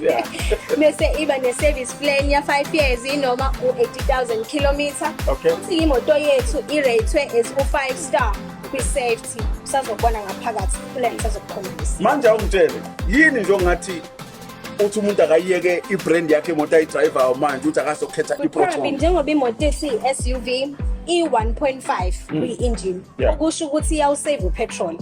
Yeah. bese iba ne-service plan ya-five years inoma u-80,000 kilometer Okay. futhi imoto yethu iratwe as u-five star kwi-safety usazobona ngaphakathi kule ngisazokukhombisa manje awungitshele yini nje ongathi uthi umuntu akayiyeke i-brand yakhe imoto ayidrayivayo manje ukuthi akazokhetha Kuqhabi i-proton njengoba imoto esiyi-SUV i-1.5 kwi-engine Mm. Yeah. okusho ukuthi iyawusave upetrol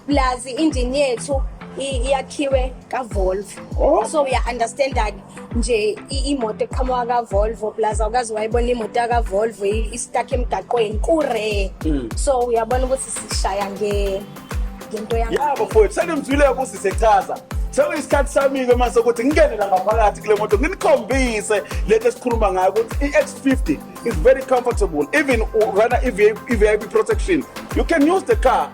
plus i-engine yethu i- iyakhiwe kavolvo oh. so uya-understanda-ke nje imoto eqhamuka kavolvo plus awukazi wayibona imoto yakavolvo istak emgaqweni kure mm. so uyabona ukuthi sishaya ngento yabo fowethu senimzwile ukuthi sechaza sekuyisikhathi sami-ke mase ukuthi ngingene la ngaphakathi kule moto nginikhombise lento esikhuluma ngayo ukuthi i-x50 is very comfortable even urana i-vip protection you can use the car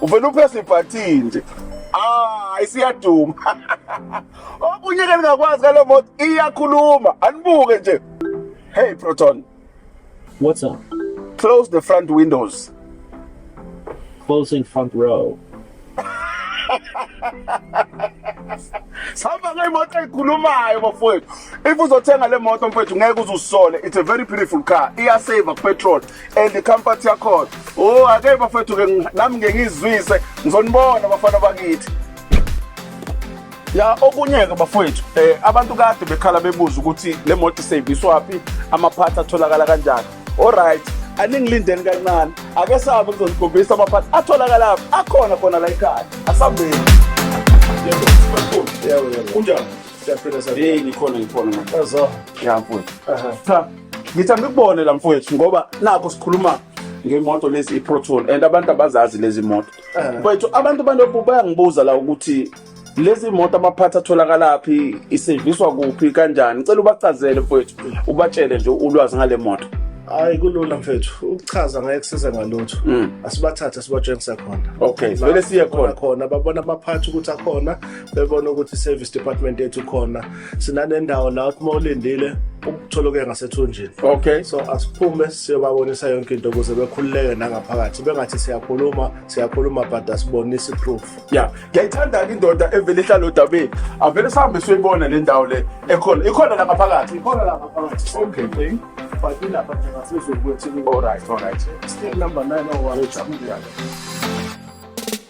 uvele uphese ibhathini nje hayi siyaduma okunye ke ningakwazi ngale moto iyakhuluma anibuke nje hey proton what's up close the front windows closing front row sihamba ngemoto eyikhulumayo bafowethu if uzothenga le moto mfowethu ngeke uzusole it's a very beautiful car iyasave kupetrol and the comfort yakhona oh ake bafethu ke nami ngeke ngizwise ngizonibona bafana bakithi ya okunye-ke bafowethu um abantu kade bekhala bebuza ukuthi le moto iseyiviswaphi amaphathi atholakala kanjani olright aningilindeni kancane ake sabe kuzonigobisa amaphathi atholakalaphi akhona khona la ekhaya asambeni kunjani siyaphila sabe ngikhona ngikhona ya mfowethu cha ngitha ngikubone la mfowethu ngoba nakho sikhuluma ngemoto lezi iproton and abantu abazazi lezi moto eh. mfowethu abantu banobu bayangibuza la ukuthi lezi moto amaphathi atholakalaphi iseviswa kuphi kanjani ngicela ubachazele mfowethu ubatshele nje ulwazi ngale moto hayi kulula mfethu ukuchaza ngeke kusize ngalutho mm. asibathathe sibatshengise khona okay vele siye khona khona babona abaphathi ukuthi akhona bebona ukuthi service department yethu khona sinanendawo la uma ulindile ukutholoke ngasethunjini okay so asiphume siyobabonisa yonke into ukuze bekhululeke nangaphakathi bengathi siyakhuluma siyakhuluma but asibonisi proof ya ngiyayithanda-ke indoda evele ihlala odabeni avele sihambe siyoyibona le ndawo le ekhona ikhona la ngaphakathi ikhona la ngaphakathi okay okay but ilapha nje ngasezulu kwethu all right all right still number 9 or 1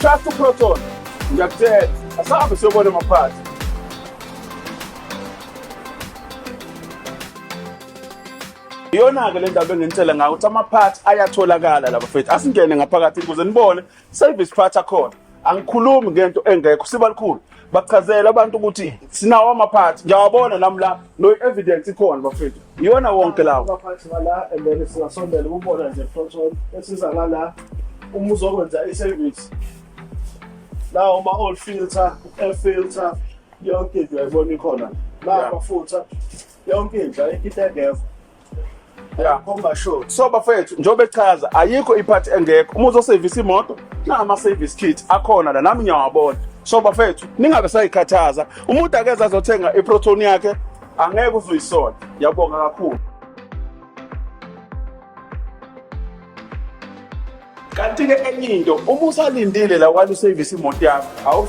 Trust uProton. Ngiyakutshela. Asahambe siyobona maphathi. iyona-ke le ndaba enginitshela ngayo ukuthi amaphathi ayatholakala laba fethu asingene ngaphakathi ukuze nibone service part akhona angikhulumi ngento engekho siba likhulu bachazela abantu ukuthi sinawo amaphathi ngiyawabona nami la no evidence ikhona bafethu iyona wonke lawo abaphathi bala and then singasondela ukubona nje proton esiza ngala uma uzokwenza i-service lawo uma old filter air filter yonke into yayibona ikhona la amafutha yonke indla ikitengeva Yeah, khomba sure. So bafethu njengoba echaza ayikho iphathi engekho. Uma uzosevisa imoto, nama service kit akhona la nami ngiyawabona. So bafethu ningabe sayikhathaza. Umuntu akeza azothenga iproton yakhe angeke uzoyisola. Yabonga kakhulu. Kanti ke enye into uma usalindile la kwalo service imoto yakho